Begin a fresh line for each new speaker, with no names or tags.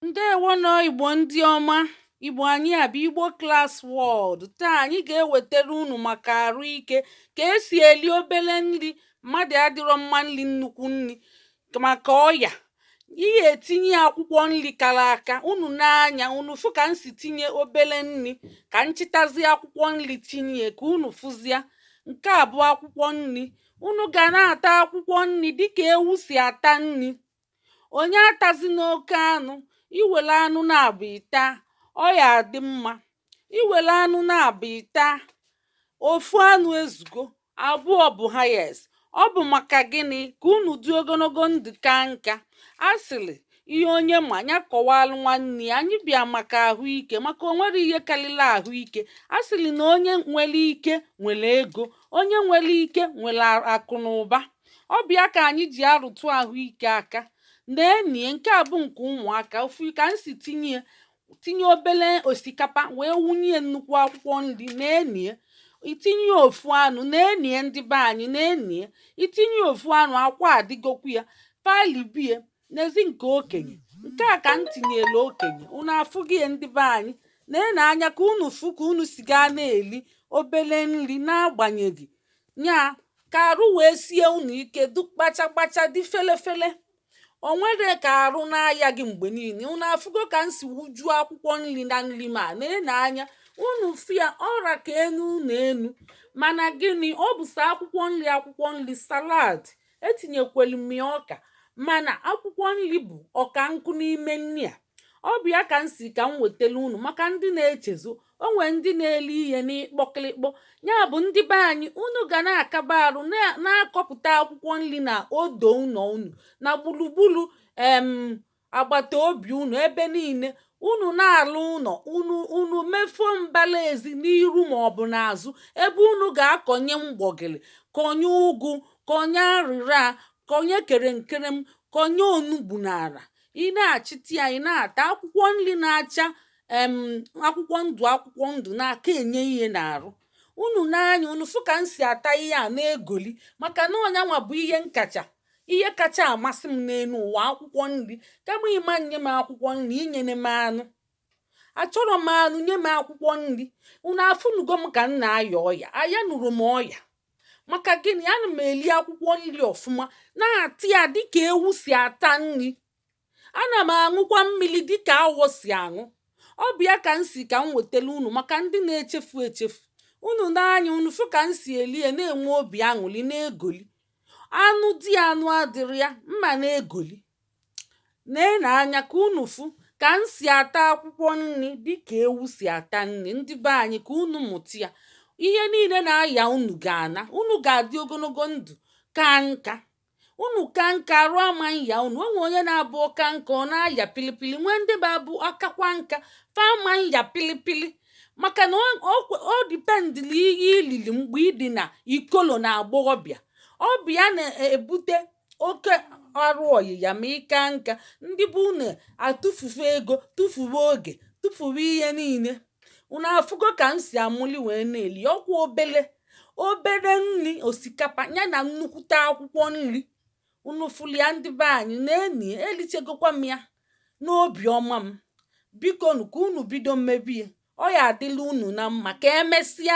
ndewonụ igbo ndị ọma igbo anyị a bụ igbo class world taa anyị ga-ewetara unu maka arụ ike ka esi eli obele nri mmadụ adịrọ mma n'iri nnukwu nri maka ọya ihe etinye akwụkwọ nri kara aka unu nee anya unu fụ ka m si tinye obele nri ka m chịtazie akwụkwọ nri tinye ka unu fụzia nke a bụ akwụkwọ nri unu ga na-ata akwụkwọ nri dịka ewu si ata nri onye atazina oke anụ i were anụ naabụ ị taa ọ ya adị mma i were anụ naabụ ị taa ofu anụ ezugo abụọ bụ highest ọ bụ maka gịnị ka unu dị ogologo ndụ kaa nka a sịrị ihe onye ma ya kọwalụ nwanne ya anyị bịa maka ahụike maka o nwerọ ihe karịrị ahụike a sịrị na onye nwere ike nwere ego onye nwere ike nwere akụ na ụba ọ bụ ya ka anyị ji arụtụ ahụike aka na-ene nke a bụ nke ụmụaka ofu ka m si tinye ya tinye obele osikapa wee wunye nnukwu akwụkwọ nri na-ene ya i tinye ofu anụ na-ene ya ndị be anyị na-ene ya i tinye ofu anụ akwa adịgokwu ya palibie nezie nke okenye nke a ka m tinyere okenye unu afụgo ya ndị be anyị na-ene anya ka unu fụ ka unu si ga na-eli obele nri n'agbanyeghị nya ka arụ wee sie unu ike dị kpacha kpacha dị fele fele o nwere ka arụ na-aya gị mgbe niile unu afụgo ka m si wujuo akwụkwọ nri na nri m a na-ene anya unu fụ ya ọ ra ka enu unu enu mana gịnị ọ bụ sọ akwụkwọ nri akwụkwọ nri salad etinyekwelu m ya ọka mana akwụkwọ nri bụ ọka nkụ n'ime nri a Ọ bụ ya ka m sị ka m wetelu unu maka ndị na-echezo onwe ndị na-eli ihe n'ịkpọkịlịkpọ ya bụ ndị be anyị unu ga na-akaba arụ na- na-akọpụta akwụkwọ nri na odo ụnọ unu na gburugburu em agbata obi unu ebe niile unu na-alụ ụnọ unu unu mefuo mbala ezi n'iru ma ọ bụ n'azụ ebe unu ga-akọnye mgbọgịrị kọnye ụgụ kọnye arịra kọnye kerenkerem kọnye onugbu n'ala ị na-achịta ya ị na-ata akwụkwọ nri na-acha em akwụkwọ ndụ akwụkwọ ndụ na-aka enye ihe n'arụ unu nee anya unu fụ ka m si ata ihe a na-egoli maka na ọ nyanwa bụ ihe nkacha ihe kacha amasị m n'elu ụwa akwụkwọ nri kama ị ma nye m akwụkwọ nri i nyene m anụ achọrọ m anụ nye m akwụkwọ nri unu afụnugo m ka m na-aya ọya ayanụrọ m ọya maka gịnị ana m eli akwụkwọ nri ọfụma na-ata ya dịka ewu si ata nri ana m aṅụkwa mmiri dịka awọ si aṅụ ọ bụ ya ka m sị ka m wetelu unu maka ndị na-echefu echefu unu nee anya unu fụ ka m si eli ya na-enwe obi aṅụli na-egoli anụ dị anụ adịrọ ya m ana-egoli nà ène anya kà unù fụ kà m sì àta akwụkwọ nni dịkà ewu sì àta nni ndị be anyị kà unù mụta ya ihe niile nà aya unù gà àna unù gà àdị ogologo ndụ̀ ka nka unù ka nka àrụ ama nya unù o nwè onye na abụ ọ ka nka ọ na aya pili pili nwee ndị bụ abụ akakwa nka fa ama nya pili pili màkà nà ọ depend nà ihe i lili m̀gbè ị dị nà ikolo nà àgbọghọbịà ọ bụ ya nà èbute oke arụ ọyịya ma ị kaa nka ndị be unu atụfuwe ego tụfuwe oge tụfuwe ihe niine unu afụgo ka m si amụli wee na-eli ọ kwa obele obere nni osikapa ya na nnukwute akwụkwọ nri unu fụlụ ya ndị be anyị na-ene ya elichegokwa m ya n'obi ọma m bikonu ka unu bido mebe ya ọ ya adịlị unu na mma ka emesịa